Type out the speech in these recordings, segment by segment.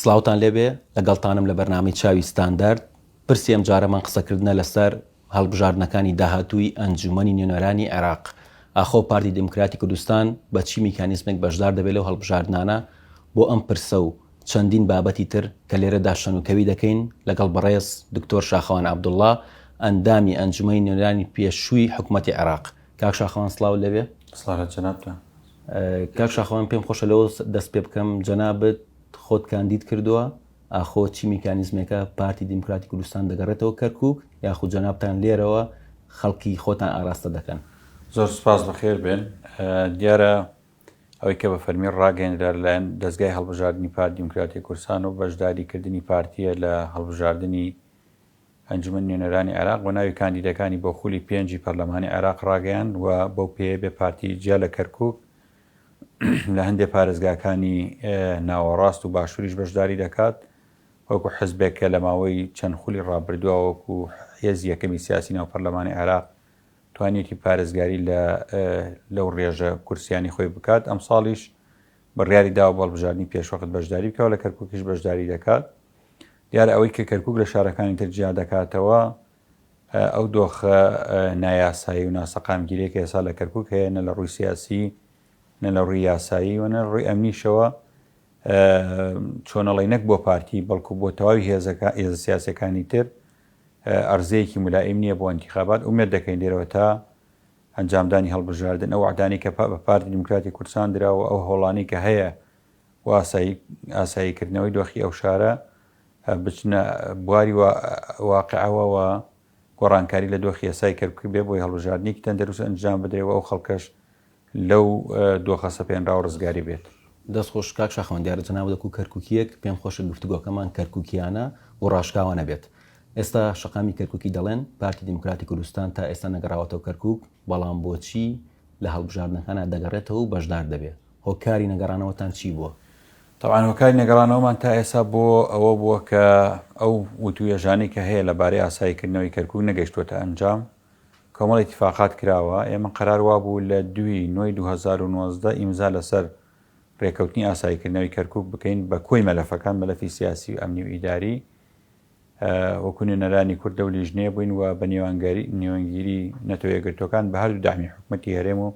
سڵاوتان لێبێ لەگەڵتانم لە بەرنامەی چاوی ستاندارد پرسی ئەم جارەمان قسەکردنە لەسەر هەڵبژاردنەکانی داهاتووی ئەنجومەنی نوێنەرانی عێراق ئاخۆ پارتی دیموکراتی کوردستان بە چی میکانیزمێک بەشدار دەبێت لەو هەڵبژاردنانە بۆ ئەم پرسە و چەندین بابەتی تر کە لێرەدا شەنوکەوی دەکەین لەگەڵ بەڕێز دکتۆر شاخەوان عەبدوڵڵا ئەندامی ئەنجومەنی نوێنەرانی پێشووی حکومەتی عێراق کاک شاخەوان سڵاو لێبێ. سڵاو لە جەنابتان. کاک شاخەو من پێم خۆشە لەوە دەست پێ بکەم جەنابت خۆت کاندید کردووە ئاخۆ چی میکانیزمێکە پارتی دیموکراتی کوردستان دەگەڕێتەوە کەرکک یاخود جەنابتان لێرەوە خەڵکی خۆتان ئاراستە دەکەن زۆر سپاس بەخێر بێن دیارە ئەوەی کە بە فەرمی ڕاگەندرا لەلایەن دەستگای هەڵبژاردننی پار دیموکراتی کورسان و بەشداریکردنی پارتیە لە هەڵبژاردننی ئەنجومەنی نوێنەرانی عێراق بە ناوی کاندیدەکانی بۆ خولی پێنجی پەرلەمانی عێراق ڕاگەیاند و بەو پێیە بێ پارتی جیا لە کەرکوک لە هەندێ پارێزگاکانی ناوەڕاست و باشووریش بەشداری دەکات وەکو حزبێک کە لە ماوەی چەند خولی ڕابردووە وەکو هێز یەکەمی سیاسی ناو پەرلەمانی عێراق توانیەتی پارێزگاری لە لەو ڕێژە کورسیانی خۆی بکات ئەم ساڵیش بڕیاری داوە بەڵبژاردننی پێشوەخت بەشداری بکەوە لە کەرکوکیش بەشداری دەکات دیارە ئەوەی کە کەرکوک لە شارەکانی تر جیا دەکاتەوە ئەو دۆخە نایاسایی و ناسەقامگیرێک ئێسا لە کەرکک هەیە نە لە ڕووی سیاسی نە لە ڕووی یاسایی و نە ڕووی ئەمنیشەوە چۆنەڵی نەک بۆ پارتی بەڵکو بۆ تەواوی هێزەکە ئێز سیاسەکانی تر ئەرزەیەکی ملائیم نییە بۆ ئەنتیخابات ومێت دەکەین لێرەوە تا ئەنجامدانی هەڵبژاردن ئەو عدانی کە بە پارتی دیموکراتی کوردستان درا و ئەو هۆڵانی کە هەیە و ئاسایی کردنەوەی دۆخی ئەو شارە بچنە بواری واقعەوە و گۆڕانکاری لە دۆخی ئێستای کەرکوک بێ بۆی هەڵبژاردنێکی تەندروست ئەنجام بدرێ و ئەو خەڵکەش لەو دۆخە سەپێنراوە ڕزگاری بێت. دەست خۆش کاک شاخەوان دیارە جەنابت وەکو کەرکوکییەک پێم خۆشە گفتوگۆکەمان کەرکوکییانە و ڕاشکاوانە بێت. ئێستا شەقامی کەرکوکی دەڵێن پارتی دیموکراتی کوردستان تا ئێستا نەگەڕاوەتەوە کەرکوک، بەڵام بۆچی لە هەڵبژاردنەکانا دەگەڕێتەوە و بەشدار دەبێ؟ هۆکاری نەگەڕانەوەتان چی بووە؟ تەبعەن هۆکاری نەگەڕانەوەمان تا ئێستا بۆ ئەوە بووە کە ئەو وتووێژانەی کە هەیە لە بارەی ئاسایی کردنەوەی کەرکووک نەگەیشتووەتە ئەنجام، کۆمەڵ ئیتیفاقات کراوە، ئێمە قەرار وا بوو لە دووی نۆی دوو هەزار و نۆزدە ئیمزا لە سەر رێکەوتنی ئاسایی کردنەوەی کەرکووک بکەین بە کۆی مەلەفەکان، مەلەفی سیاسی و ئەمنی و ئیداری، وەکوو نوێنەرانی کوردە و لیژنەیە بووین و بە نێوانگیری نەتەوە یەکگرتووەکان بە هەردوو دەعمی حکومەتی هەرێم و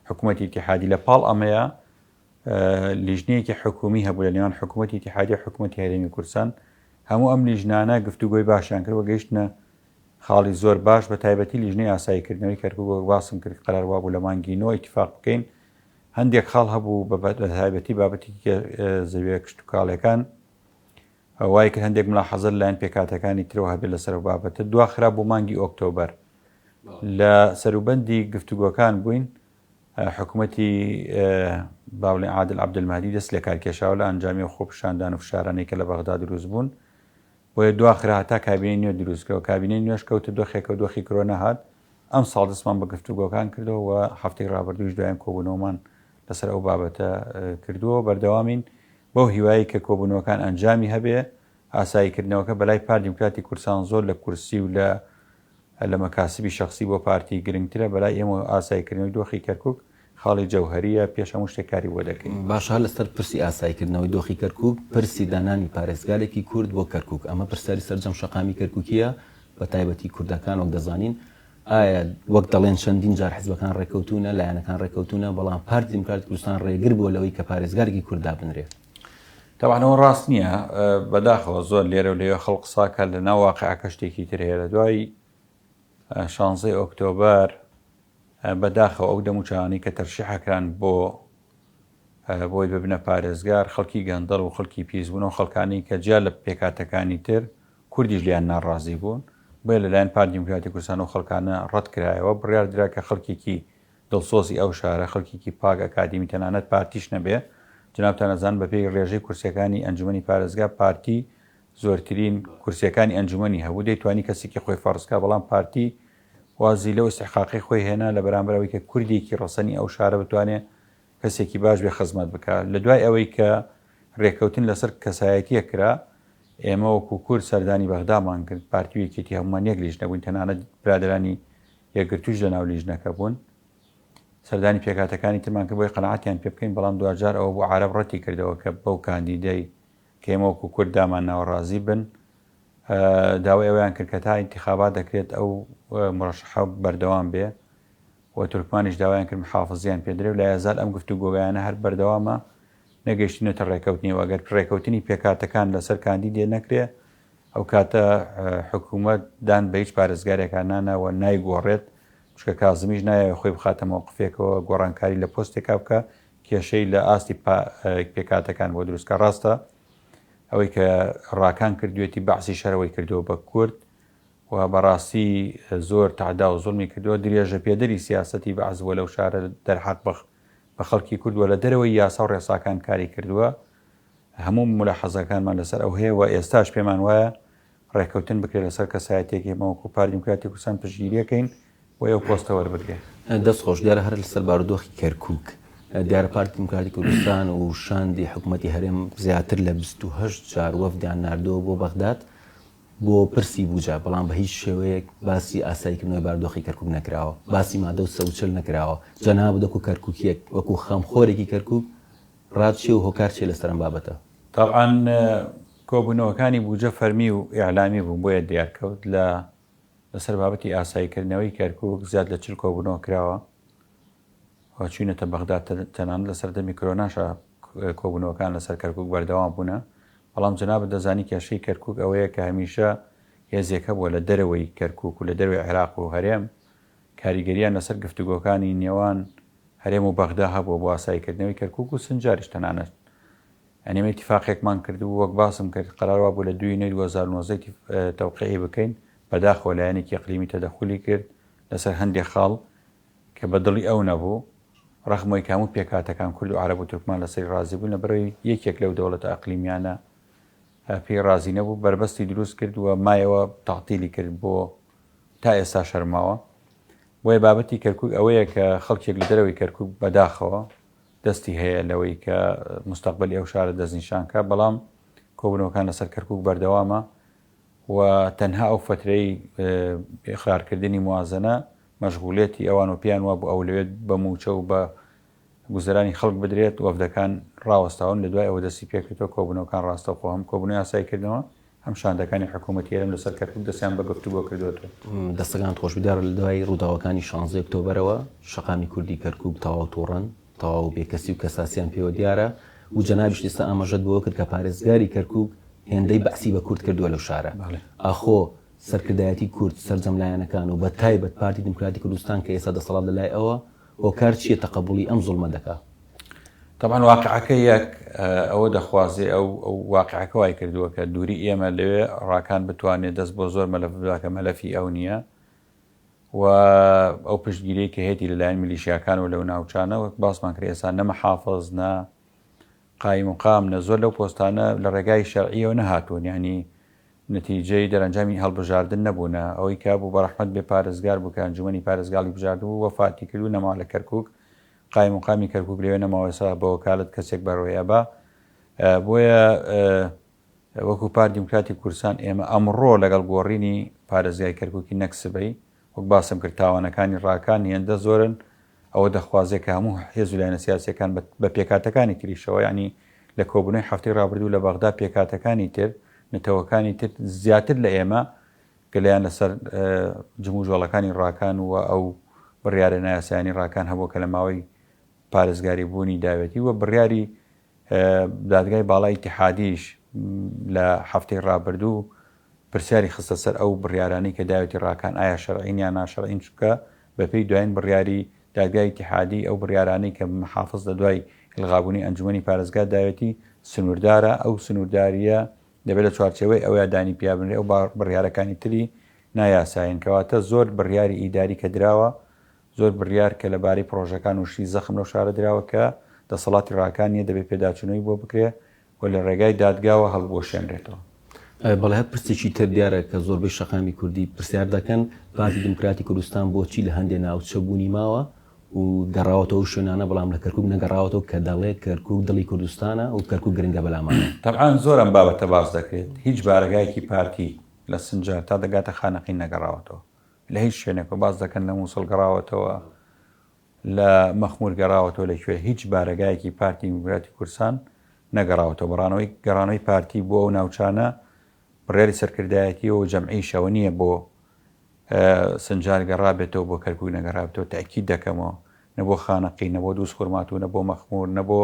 حکومەتی ئیتیحادی لە پاڵ ئەمەیە لیژنەیەکی حکومی هەبوو لە نێوان حکوومەتی تیحادی حکوومەتی هەرێمی کورسان هەموو ئەم لیژنانە گفتوگۆی باشیان کرد و گەیشتە خاڵی زۆر باش بە تایبەتی لیژنەی ئاساییکردنەوەی کەرکووە باسم کرد قەرار وابوو لە مانگی نۆ ئیتفاق بکەین هەندێک خاڵ هەبوو بە تایبەتی بابەتی زەویە کشتتوکاڵەکان وایە کە هەندێک ملاحەزە لەلایەن پێکهاتەکانی ترەوە هەبێت لەسەر ئەو بابەتە، دواخرا بۆ مانگی ئۆکتۆبەر. لە سەروبەندی گفتوگۆکان بووین، حکومەتی با بڵێین عادل عەبدولمەهدی دەستی لە کار کێشاوە لە ئەنجامی ئەو خۆپیشاندان و فشارانەی کە لە بەغدا دروستبوون، بۆیە دواخرا هەتا کابینەی نوێ دروستکرا، کابینەی نوێش کەوتە دۆخێکەوە دۆخی کرۆ نەهات، ئەمساڵ دەستمان بە گفتوگۆکان کردەوە و هەفتەی رابردووش دوایین کۆبوونەوەمان لەسەر ئەو بابەتە کردووە، بەردەوامین بەو هیوایەی کە کۆبوونەوەکان ئەنجامی هەبێ، ئاساییکردنەوەکە بەلای پارت دیموکراتی کوردستان زۆر لە کورسی و لە لە مەکاسبی شەخسی بۆ پارتی گرنگترە، بەلای ئێمەوە ئاساییکردنەوەی دۆخی کەرکوک خاڵی جەوهەرییە، پێش هەموو شتێک کاری بۆ دەکەین. باشە هەر لەسەر پرسی ئاساییکردنەوەی دۆخی کەرکوک، پرسی دانانی پارێزگارێکی کورد بۆ کەرکوک، ئەمە پرسیاری سەرجەم شەقامی کەرکوکییە، بەتایبەتی کوردەکان، وەک دەزانین ئایا وەک دەڵێن چەندین جار حزبەکان ڕێککەوتوونە، لایەنەکان ڕێککەوتوونە، بەڵام پارتی دیموکراتی کوردستان ڕێگر بووە لەوەی کە پارێزگارێکی کورد دابنرێت؟ تەبعەن ئەوە ڕاست نییە، بەداخەوە زۆر لێرە و لەوێ خەڵک قسە ئەکات، لەناو واقیعەکە شتێکی تر هەیە. لە دوای شانزەی ئۆکتۆبەر بەداخەوە ئەو دەموچاوانەی کە تەرشیح کران بۆ بۆی ببنە پارێزگار، خەڵکی گەندەڵ و خەڵکی پیس بوون و خەڵکانی کە جیا لە پێکهاتەکانی تر کوردیش لێیان ناڕازی بوون، بۆیە لەلایەن پارتی دیموکراتی کوردستان ئەو خەڵکانە ڕەتکرایەوە، بڕیار درا کە خەڵکێکی دڵسۆزی ئەو شارە، خەڵکێکی پاک، ئەکادیمی، تەنانەت پارتیش نەبێ، جەنابتان ئەزانن بەپێی ڕێژەی کورسییەکانی ئەنجومەنی پارێزگا پارتی زۆرترین کورسییەکانی ئەنجومەنی هەبوو، دەیتوانی کەسێکی خۆی فەرز کا، بەڵام پارتی وازی لەو ئیستحقاقەی خۆی هێنا لەبەرامبەر ئەوەی کە کوردێکی ڕەسەنی ئەو شارە بتوانێ کەسێکی باش بێ خزمەت بکا لە دوای ئەوەی کە رێکەوتن لەسەر کەسایەتیە کرا ئێمە وەکو کورد سەردانی بەغدامان کرد پارتی و یەکێتی هەمومان یەک لیژنە بووین تەنانەت برادرانی یەکگرتووش لە ناو لیژنەکە بوون سەردانی پێکاتەکانی ترمان کە بۆی قەنعاتیان پێ بکەین بەڵام دواجار ئەوە بۆ عرب ڕەتی کردەوە کە بەو کاندیدەی کەمەوەکو کورد دامان ناوەڕازی بن داوای ئەویان کرد کە تا انتخابات دەکرێت ئەو مرەشحە بەردەوام بێ و تورکمانیش داوایان کرد محافزیان پێ درێ و لای ئازاد ئەم گفتوگۆگایانە هەر بەردەوامە، نەگەیشتوونەتە رێکەوتنی و ئەگەر رێکەوتنی پێکهاتەکان لەسەر کاندیدێ نەکرێ ئەوکاتە حکوومەت دان بە هیچ پارێزگارێکا نانا و نایگۆڕێت، چونکە کازمیش نایەوێ خۆی بخاتە مەوقفێکەوە گۆڕانکاری لە پۆستێکا بکا کێشەی لە ئاستی پێکهاتەکان بۆ دروستکا، راستە ئەوەی کە راکان کردووێتی بەعسیش هەر ئەوەی کردووە بە کورد، و بەڕاستی زۆر تەعدا و زوڵمی کردووە، درێژە پێدەری سیاسەتی بەعس بووە لەو شارە دەرحەق بە بە خەڵکی کورد و لە دەرەوەی یاسا و ڕێساکان کاری کردووە، هەموو مولاحەزەکانمان لەسەر ئەو هەیە و ئێستاش پێمان وایە ڕێککەوتن بکرێ لەسەر کەسایەتیەک ئێمە وەکو پارتی دیموکراتی کوردستان پشتگیری ئەکەین بۆی ئەو پۆستە وەربگرێ. دەست خۆش، دیارە هەر لەسەر بارودۆخی کەرکوک دیارە پارتی دیموکراتی کوردستان و شاندی حکومەتی هەرێم زیاتر لە بیست و هەشت جار وەفدیان ناردووە بۆ بەغداد، بۆ پرسی بوجە، بەڵام بە هیچ شێوەیەک باسی ئاسایی کردنەوەی باردۆخی کەرکوک نەکراوە، باسی مادە و سەوچل نەکراوە، جەنابت وەکو کەرکوکیەک، وەکو خەمخۆرێکی کەرکوک رات چیە و هۆکار چیە لەسەر ئەم بابەتە؟ تەبعەن کۆبونەوەکانی بوجە فەرمی و ئیعلامی بوون بۆیە دیار کەوت، لە لەسەر بابەتی ئاسایی کردنەوەی کەرکوک زیاد لە چل کۆبونەوە کراوە و چوینەتە بەغداد تەنانەت لە سەردەمی کرۆناشا، کۆبوونەوەکان لەسەر کەرکووک بەردەوام بوونە، بەڵام جەنابت دەزانی کێشەی کەرکووک ئەوەیە کە هەمیشە هێزێک هەبووە لە دەرەوەی کەرکووک و لە دەرەوەی عێراق و هەرێم کاریگەرییان لەسەر گفتوگۆکانی نێوان هەرێم و بەغدا هەبووە بۆ ئاساییکردنەوەی کەرکووک و سنجاریش تەنانەت ئێمە ئیتیفاقێکمان کردبوو وەک باسم کرد قەرار وابوو لە دووینەی دوو هەزار و نۆزدە تەوقیعی بکەین بەداخەوە لایەنێکی ئیقلیمی تەدەخولی کرد لەسەر هەندێک خاڵ کە بە دڵی ئەو نەبوو، رەخمۆی کە هەموو پێکهاتەکان کورد و عەرەب و تورکمان لەسەری رازی بوون، لەبەرئەوەی یەکێک لەو دەوڵەتە ئەقلیمیانە پێی رازی نەبوو، بەربەستی دروست کرد و مایەوە تەعتیلی کرد بۆ تا ئێستا شەرماوە. بۆیە بابەتی کەرکوک ئەوەیە کە خەڵکێک لە دەرەوەی کەرکوک بەداخەوە دەستی هەیە لەوەی کە مستەقبەلی ئەو شارە دەستنیشان کا، بەڵام کۆبوونەوەکان لەسەر کەرکوک بەردەوامە و تەنها ئەو فەترەی ئیقرار کردنی موازەنە مەشغولیەتی ئەوان و پێیان وابوو ئەولەوێت بە مووچە و بە گوزەرانی خەڵک بدرێت، وەفدەکان ڕاوەستاون لە دوای ئەوە دەستی پێکردوە کۆبوونەوەکان ڕاستەوخۆ هەم کۆبوونەوەی ئاسایی کردنەوە هەم شاندەکانی حکوومەتی هەرێم لەسەر کەرکووک دەستیان بە گفتوگۆ کردوەتەوە. دەستەکانت خۆش، دیدار لە دوای ڕووداوەکانی شانزدە ئۆکتۆبەرەوە شەقامی کوردی کەرکووک تەواو تۆڕەن، تەواو و بێکەسی و کەساسیان پێوە دیارە و جەنابیشت ئێستا ئاماژەت بەوە کرد کە پارێزگاری کەرکووک هێندەی بەعسی بە کورد کردووە لەو شارە. ئاخۆ سەرکردایەتی کورد، سەرجەم لایەنەکان و بەتایبەت پارتی دیموکراتی کوردستان کە ئێستا دەسەڵات لە لای ئەوە، هۆکار چییە تەقەبووڵی ئەم زوڵمە دەکا؟ تەبعەن واقعەکە یەک ئەوە دەخوازێ، ئەو واقعەکە وای کردووە کە دووری ئێمە لەوێ ڕاکان بتوانێ دەست بۆ زۆر مەلەف ببا کە مەلەفی ئەو نییە. و ئەو پشتگیری کە هەیەی لەلایەن میلیشیاکان و لەو ناوچانە وەک باسمان کرد ئێستا نە محافظ نە قایم و قام نە زۆر لەو پۆستانە لە ڕێگای شەرعیەوە نەهاتوون ینی نتیجەی دەرەنجامی هەڵبژاردن نەبوونە ئەوەی کا بوو بەڕحمت بێ پارێزگار بکەن جومنی پارێزگاڵی بژارد و وەفاتی کرد و نەما لە کەرکک قایم و قامی کەرکک لەوێ نەماوەسا بە وەکالت کەسێک بەرۆیە بە بۆیە وەکو پارت دیموکراتی کوردستان ئێمە ئەمڕۆ لەگەڵ گۆڕینی پارێزگای کەرکوکی نەک سبەی، وەک باسم کرد تاوانەکانی ڕاکان هێندە زۆرن ئەوە دەخوازێت کە هەموو حێزو لایەنە سیاسیەکان بە پێکهاتەکانی تریشەوە یانی لە کۆبونەوەی هەفتەی ڕابردوو لە بەغدا پێکهاتەکانی تر نەتەوەکانی تر زیاتر لە ئێمە گەلیان لەسەر جموجۆڵەکانی ڕاکان و ئەو بڕیارە نایاسایانی ڕاکان هەبوو کە لە ماوەی پارێزگاری بوونی داوێتی و بڕیاری دادگای باڵای ئیتیحادیش لە هەفتەی ڕابردوو پرسیاری خستە سەر ئەو بڕیارانی کە داوێتی ڕاکان ئایا شەرعین یان ناشەرعین چونکە بەپێی دوایین بڕیاری دادگای ئیتیحادی ئەو بڕیارانەی کە محافز لە دوای ئیلغابوونی ئەنجومەنی پارێزگا داوێتی سنووردارە ئەو سنووردارییە دەبێت لە چوارچێوەی ئەوەیە دانی پیا بنرێ ئەو بڕیارەکانی تری نایاسایین کەواتە زۆر بڕیاری ئیداری کە دراوە زۆر بڕیار کە لە بارەی پڕۆژەکان و شتی زەخم لەو شارە دراوە کە دەسەڵاتی ڕاکان نییە، دەبێ پێداچوونەوەی بۆ بکرێ و لە ڕێگای دادگاوە هەڵبوەشێنرێتەوە. بەڵێ هەر پرسێکی تر دیارە کە زۆربەی شەقامی کوردی پرسیار دەکەن، پارتی دیموکراتی کوردستان بۆچی لە هەندێ ناوچە بوونی ماوە و گەڕاوەتەوە ئەو شوێنانە بەڵام لە کەرکوک نەگەڕاوەتەوە کە دەڵێ کەرکوک دڵی کوردستانە و کەرکوک گرنگە بە لامان؟ تەبعەن زۆر ئەم بابەتە باس دەکرێت، هیچ بارەگایەکی پارتی لە سنجار تا دەگاتە خانەقین نەگەڕاوەتەوە. لە هیچ شوێنێکەوە باس دەکەن لە موسڵ گەڕاوەتەوە لە مەخمور گەڕاوەتەوە لە کوێ هیچ بارەگایەکی پارتی میموراتی کورسان نەگەڕاوەتەوە بەڕانەوەی گەڕانەوەی پارتی بۆ ئەو ناوچانە بڕیاری سەرکردایەتی و جەمعیشەوە نییە بۆ سنجار گەڕابێتەوە بۆ کەرکک نەگەڕابێتەوە تاکی دەکەمەوە نەبۆ خانەقی نەبۆ دووس خورماتوو نەبۆ مەخمور نەبۆ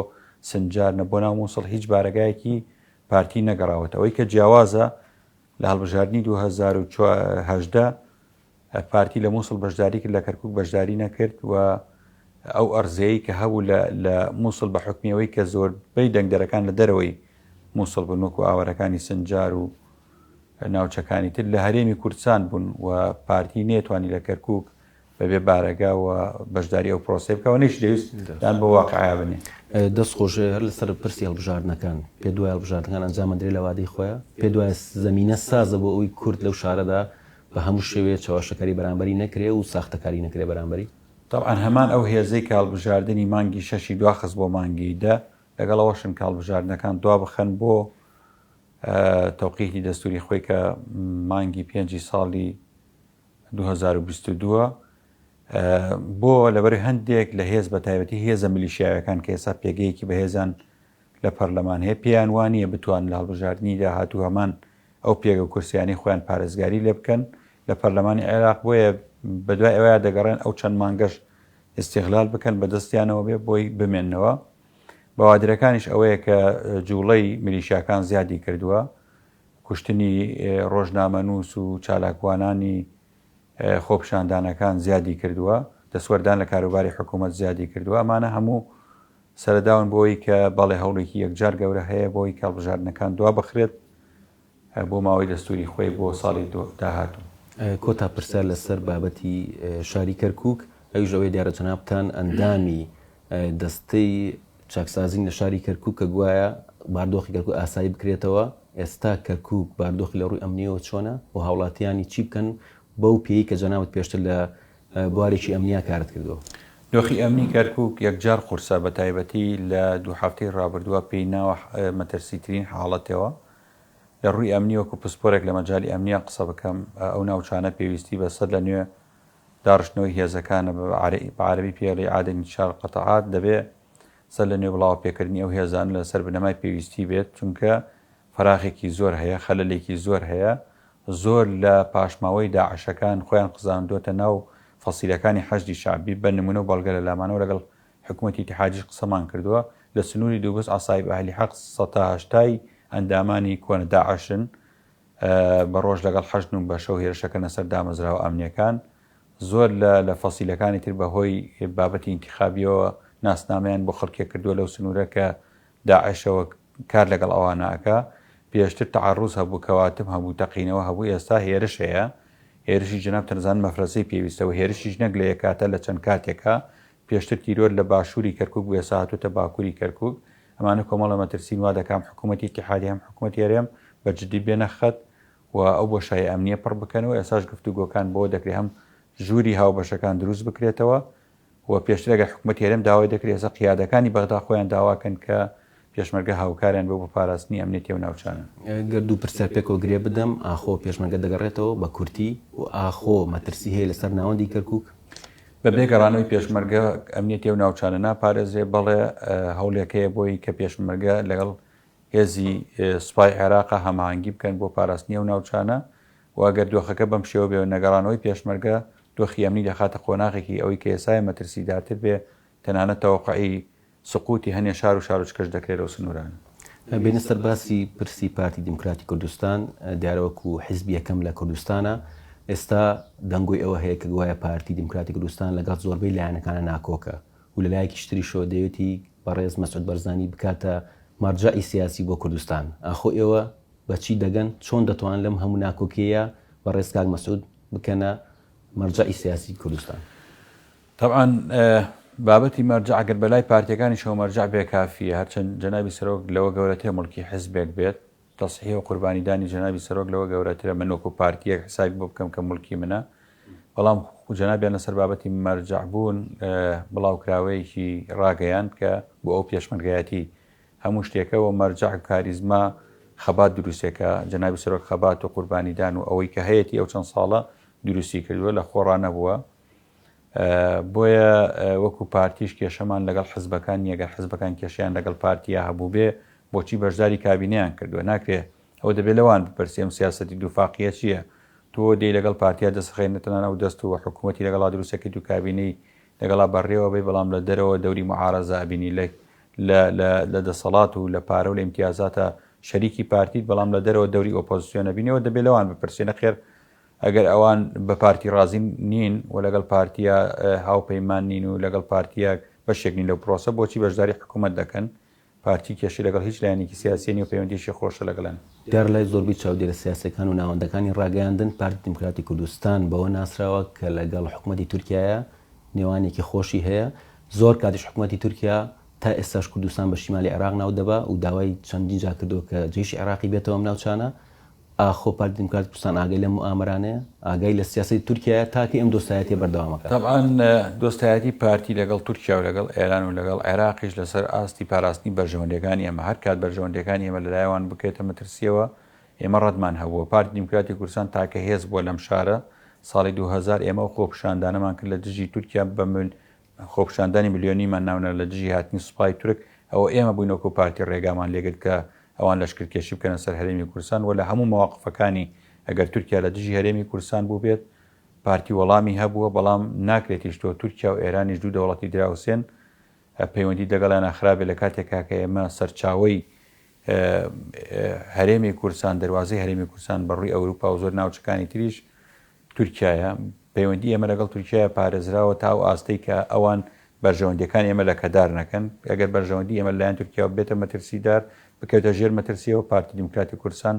سنجار نەبۆ ناو مووسڵ هیچ بارەگایەکی پارتی نەگەڕاوەتەوەی کە جیاوازە لە هەڵبژاردنی دوو هەزار و هەژدە پارتی لە مووسڵ بەشداری کرد لە کەرکک بەشداری نەکرد و ئەو ئەرزەیە کە هەبوو لە مووسڵ بە حکمیەوەی کە زۆر بەی دەنگدەرەکان لە دەرەوەی مووسڵ بن وەکو ئاوارەکانی سنجار و ناوچەکانی تر لە هەرێمی کوردستان بوون و پارتی نێتوانی لە کەرکک بەبێ بارەگا و بەشداری ئەو پرۆسەی بکەوە نەیش دەویست دان بۆ واقعیا بنێ. دەست خۆش هەر لەسەر پرسی هەڵبژاردنەکان پێت وایە هەڵبژاردنەکان ئەنجام ئەدرێ لە وادەی خۆیە؟ پێت وایە زەمینە سازە بۆ ئەوەی کورد لەو شارەدا بە هەموو شێوەیە چەواشەکاری بەرامبەری نەکرێ و ساختەکاری نەکرێ بەرامبەری؟ تەبعەن هەمان ئەو هێزەی کە هەڵبژاردنی مانگی شەشی دواخست بۆ مانگی دە، لەگەڵ ئەوەشن کە هەڵبژاردنەکان دوابخەن بۆ تەوقیتی دەستووری خۆی کە مانگی پێنجی ساڵی دوو هەزار و بیست و دوو بۆ لەبەر هەندێک لە هێز بەتایبەتی هێزە ملیشیاوەکان کە ئێستا پێگەیەکی بەهێزان لە پەرلەمان هەیە پێیان وانە بتوان لە هەڵبژاردننی داهاتوو هەمان ئەو پێگە کورسیانی خۆیان پارێزگاری لێ بکەن لە پەرلەمانی عێراق بۆیە بەدوای ئەوەیە دەگەڕێن ئەو چەند مانگەش ئستیغلال بکەن بە دەستیانەوە بێ بۆی بمێنەوە بەوادرەکانیش ئەوەیە کە جوڵەی ملیشاکان زیادی کردووە کوشتنی ڕۆژنامەنووس و چالاکوانانی خۆپیشاندانەکان زیادی کردووە، دەستوەردان لە کاروباری حکوومەت زیادی کردووە، ئەمانە هەموو سەرەداون بۆ ئەوەی کە بەڵێ هەوڵێکی یەکجار گەورە هەیە بۆ ئەوەی کە هەڵبژاردنەکان دوا بخرێت بۆ ماوەی دەستووری خۆی بۆ ساڵی داهاتوو. کۆتا پرسیار لەسەر بابەتی شاری کەرکووک، ئەویش ئەوەیە دیارە جەنابتان ئەندامی دەستەی چاکسازی لە شاری کەرکووک کە گوایە باردۆخی کەرکووک ئاسایی بکرێتەوە، ئێستا کەرکووک باردۆخی لە ڕووی ئەمنییەوە چۆنە و هاوڵاتییانی چی بکەن بەو پێیەی کە جەنابت پێشتر لە بوارێکی ئەمنیا کارت کردووە؟ دۆخی ئەمنی کەرکووک یەکجار قورسە، بەتایبەتی لە دوو هەفتەی ڕابردووە پێی ناوە مەترسیترین حاڵەتەوە لە ڕووی ئەمنی، وەکو پسپۆرێک لە مەجالی ئەمنیا قسە بکەم ئەو ناوچانە پێویستی بە سەرلەنوێ داڕشتنەوەی هێزەکانە بە بە عەرەبی پێڵی عاد انتشار القطعات دەبێ سەر لە نوێ بڵاوە پێکردنی ئەو هێزانە لە سەر بنەمای پێویستی بێت چونکە فەراغێکی زۆر هەیە خەلەلێکی زۆر هەیە زۆر لە پاشماوەی داعشەکان خۆیان خزاندۆتە ناو فەسیلەکانی حەشدی شەعبی بە نمونە و بەڵگە لە لامانەوە لەگەڵ حکومەتی اتحادیش قسەمان کردوە لە سنوری دوبز عەسائیب ئەهلی حەق سەتا هەشتای ئەندامانی کۆنە داعشن بە ڕۆژ لەگەڵ حەشدن و بە شەو هێرشەکەنە سەر دامەزراوە ئەمنییەکان. زۆر لە لە فەسیلەکانی تر بە هۆی بابەتی ئینتیخابییەوە ناسنامەیان بۆ خەڵکێک کردووە لەو سنوورە کە داعشەوە کار لەگەڵ ئەوانە ئەکا. پێشتر تەعەڕوز هەبوو، کەواتم هەبوو، تەقینەوە هەبوو، ئێستا هێرش هەیە. هێرشی جەنابتان دەزانن مەفرەزەی پێویستە و هێرشیش نەک لە یەک کاتە لە چەند کاتێکا پێشتر تیرۆر لە باشووری کەرکووک بووە ئێستا هاتووەتە باکووری کەرکووک ئەمانە کۆمەڵە مەترسین وا دەکا هەم حکوومەتی ئیتیحادی هەم حکوومەتی هەرێم بە جددی بێنە خەت و ئەو بۆشایە ئەمنییە پڕ بکەنەوە ئێستاش گفتوگۆکان بەوە دەکرێ هەم ژووری هاوبەشەکان دروست بکرێتەوە و پێشتر ئەگەر حکوومەتی هەرێم داوای دەکرێ ئێستا قیادەکانی بەغدا خۆیان داوا کەن کە پێشمەرگە هاوکاریان بۆ بۆ پاراستنی ئەمنیەتی ئەو ناوچانە. گەر دوو پرسیار پێکەوە گرێ بدەم، ئاخۆ پێشمەرگە دەگەڕێتەوە؟ بە کورتی و ئاخۆ مەترسی هەیە لە سەر ناوەندی کەرکوک؟ بە بێ گەڕانەوەی پێشمەرگە ئەمنیەتی ئەو ناوچانە ناپارێزرێ، بەڵێ هەوڵێک هەیە بۆی کە پێشمەرگە لەگەڵ هێزی سوپای عێراق هەماهەنگی بکەن بۆ پاراستنی ئەو ناوچانە و گەر دۆخەکە بەم شێوە بێ و نەگەڕانەوەی پێشمەرگە دۆخی ئەمنی دەخاتە قۆناغێکی ئەوەی کە ئێسایە مەترسیدارتر بێ تەنانەت تەوەقعی سقوتی هەنێ شار و شارۆچکەش دەکرێ لەو سنوورانە. بێنە سەر باسی پرسی پارتی دیموکراتی کوردستان، دیارە وەکو حیزب یەکەم لە کوردستانە، ئێستا دەنگۆی ئەوە هەیە کە گوایە پارتی دیموکراتی کوردستان لەگەڵ زۆربەی لایەنەکانە ناکۆکە و لە لایەکیش تریشەوە دەیەوێتی بەڕێز مەسعود بەرزانی بکاتە مەرجەعی سیاسی بۆ کوردستان، ئاخۆ ئێوە بە چی دەگەن، چۆن دەتوانن لەم هەموو ناکۆکییە بەڕێز کاک مەسعود بکەنە مەرجەعی سیاسی کوردستان؟ تەبعەن بابەتی مەرجەع گەر بەلای پارتیەکانیشەوە مەرجەع بێ کافیە، هەرچەند جەنابی سەرۆک لەوە گەورەترە موڵکی حزبێک بێت، تەسحیح و قوربانی دانی جەنابی سەرۆک لەوە گەورەترە من وەکو پارتیەک حسابی بۆ بکەم کە موڵکی منە، بەڵام جەنابیان لەسەر بابەتی مەرجەع بوون بڵاوکراوەیەکی راگەیاند کە بۆ ئەو پێشمەرگایەتی هەموو شتێکە و مەرجەع و کاریزما خەبات دروستێکە جەنابی سەرۆک خەبات و قوربانیدان و ئەوەی کە هەیەتی ئەو چەند ساڵە دروستی کردووە لە خۆڕا نەبووە بۆیە وەکو پارتیش کێشەمان لەگەڵ حزبەکان نیە، گەر حزبەکان کێشەیان لەگەڵ پارتیا هەبووبێ بۆچی بەشداری کابینەیان کردووە؟ ناکرێ ئەوە دەبێ لەوان بپرسی ئەم سیاسەتی دووفاقیە چیە؟ تۆ دێی لەگەڵ پارتیا دەسڕێنێ تەنانەت ئەو دەست و حکومەتی لەگەڵا دروست ئەکەیت و کابینەی لەگەڵا بەڕێوە ئەبەی بەڵام لە دەرەوە دەوری معارەزە ئەبینی لە لە دەسەڵات و لە پارە و لە ئیمتیازاتە شەریکی پارتیت بەڵام لە دەرەوە دەوری ئۆپۆزسیۆن ئەبینی ئەوە دەبێ لەوان بپرسێ نەخێر ئەگەر ئەوان بە پارتی ڕازی نین و لەگەڵ پارتییە هاوپەیمان نین و لەگەڵ پارتییە بەشێک نین لەو پرۆسە، بۆچی بەشداری حکوومەت دەکەن؟ پارتی کێشەی لەگەڵ هیچ لایەنێکی سیاسییە نییە و پەیوەندییەکی خۆشە لەگەڵ. دیارە لای زۆربەی چاودێرە سیاسییەکان و ناوەندەکانی ڕاگەیاندن، پارتی دیموکراتی کوردستان بەوە ناسراوە کە لەگەڵ حکوومەتی تورکیایە، نێوانێکی خۆشی هەیە، زۆر کاتیش حکوومەتی تورکیا تا ئێستاش کوردستان بە شیمالی عێراق ناو دەبا و داوای چەندین جار کردووە کە جەیشی عێراقی بێتەوە ئەم ناوچانە. ئاخۆ پارتی دیموکراتی کوردستان ئاگای لەم موئامەرانەیە؟ ئاگای لە سیاسەتی تورکیایە تاکەی ئەم دۆستایەتیە بەردەوام ئەکات؟ تەبعەن دۆستایەتی پارتی لەگەڵ تورکیا و لەگەڵ ئێران و لەگەڵ عێراقیش لەسەر ئاستی پاراستنی بەرژەوەندیەکانی ئێمە، هەر کات بەرژەوەندیەکانی ئێمە لەلایەن وان بکرێتە مەترسیەوە ئێمە ڕەتمان هەبووە. پارتی دیموکراتی کوردستان تاکە هێز بووە لەم شارە، ساڵی دوو هەزار ئێمە ئەو خۆپیشاندانەمان کرد لە دژی تورکیا بە خۆپیشاندانی ملیۆنیمان ناونا لە دژی هاتنی سوپای تورک، ئەوە ئێمە بووین وەکو پارتی ڕێگامان لێگرت کە ئەوان لەشکرکێشی بکەنە سەر هەرێمی کوردستان و لە هەموو مەواقفەکانی ئەگەر تورکیا لە دژی هەرێمی کوردستان بووبێت پارتی وەڵامی هەبووە بەڵام ناکرێت هیشتۆ تورکیا و ئێرانیش دوو دەوڵەتی دراوسێن پەیوەندی دەگەڵیانا خرابێت لە کاتێکا کە ئێمە سەرچاوەی هەرێمی کوردستان دەروازەی هەرێمی کوردستان بە ڕووی ئەوروپا و زۆر ناوچەکانی تریش تورکیایە، پەیوەندی ئێمە لەگەڵ تورکیایە پارێزراوە تا ئەو ئاستەی کە ئەوان بەرژەوەندیەکان ئێمە لەکەدار نەکەن، ئەگەر بەرژەوەندی ئێمە لەلایەن تورکیاوە ببێتە مەترسیدار، بکەوێتە ژێر مەترسیەوە، پارتی دیموکراتی کوردستان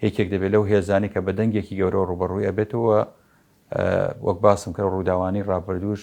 یەکێک دەبێت لەو هێزانەی کە بە دەنگێکی گەورەوە ڕووبەڕووی ئەبێتەوە و وەک باسم کرد ڕووداوانەی ڕابردووش،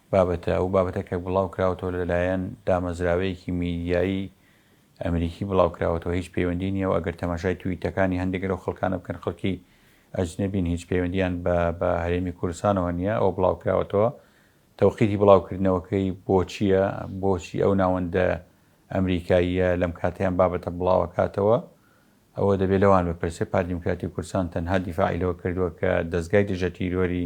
بابەتە، ئەو بابەتە کە بڵاو کراوەتەوە لە لایەن دامەزراوەیەکی میدیایی ئەمریکی بڵاو کراوەتەوە هیچ پەیوەندی نییە و ئەگەر تەماشای تویتەکانی هەندێک لەو خەڵکانە بکەن خەڵکی ئەجنەبین هیچ پەیوەندییان بە بە هەرێمی کوردستانەوە نییە، ئەوە بڵاو کراوەتەوە تەوقیتی بڵاو کردنەوەکەی بۆ چییە؟ بۆچی ئەو ناوەندە ئەمریکاییە لەم کاتەی ئەم بابەتە بڵاو ئەکاتەوە؟ ئەوە دەبێ لەوان بپرسێ پارتی دیموکراتی کوردستان تەنها دیفاعی لەوە کردووە کە دەزگای دژە تیرۆری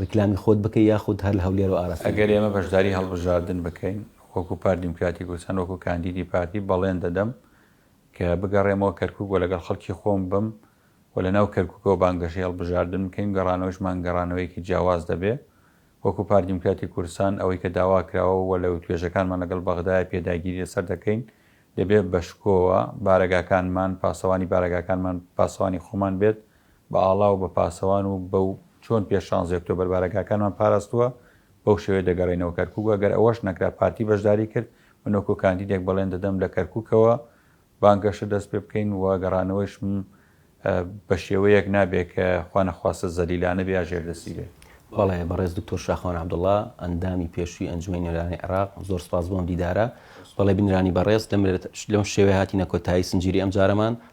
ڕیکلامی خۆت بکەی یاخود هەر لە هەولێرەوە ئاراستەی بکەی؟ ئەگەر ئێمە بەشداری هەڵبژاردن بکەین وەکو پارت دیموکراتی کوردستان وەکو کاندیدی پارتی بەڵێن دەدەم کە بگەڕێمەوە کەرکوک و لەگەڵ خەڵکی خۆم بم و لەناو کەرکوکەوە بانگەشەی هەڵبژاردن بکەین گەڕانەوەیشمان گەڕانەوەیەکی جیاواز دەبێ وەکو پارت دیموکراتی کوردستان ئەوەی کە داواکراوە و لە توێژەکانمان لەگەڵ بەغدایە پێداگیری لەسەر دەکەین دەبێ بەشکۆوە بارەگاکانمان پاسەوانی بارەگاکانمان پاسەوانی خۆمان بێت بە ئاڵا و بە پاسەوان و بە و چۆن پێش شانزی ئۆکتۆبەر بارەگاکانمان پاراستووە، بەو شێوەیە دەگەڕێینەوە کەرکووک و ئەگەر ئەوەش نەکرا پارتی بەشداری کرد، من وەکوو کاندیدێک بەڵێن دەدەم لە کەرکووکەوە بانگەشە دەست پێ بکەین و گەڕانەوەیشم بە شێوەیەک نابێ کە خوا نەخواستە زەلیلانە بێ یا ژێردەستی بێ. بەڵێ بەڕێز دکتۆر شاخەوان عەبدوڵا، ئەندامی پێشووی ئەنجومەنی نوێنەرانی عێراق، زۆر سپاس بۆ ئەم دیدارە. بەڵێ بینەرانی بەڕێز، لەم شێوەیە هاتینە کۆتایی سنجیری ئەمجارەمان.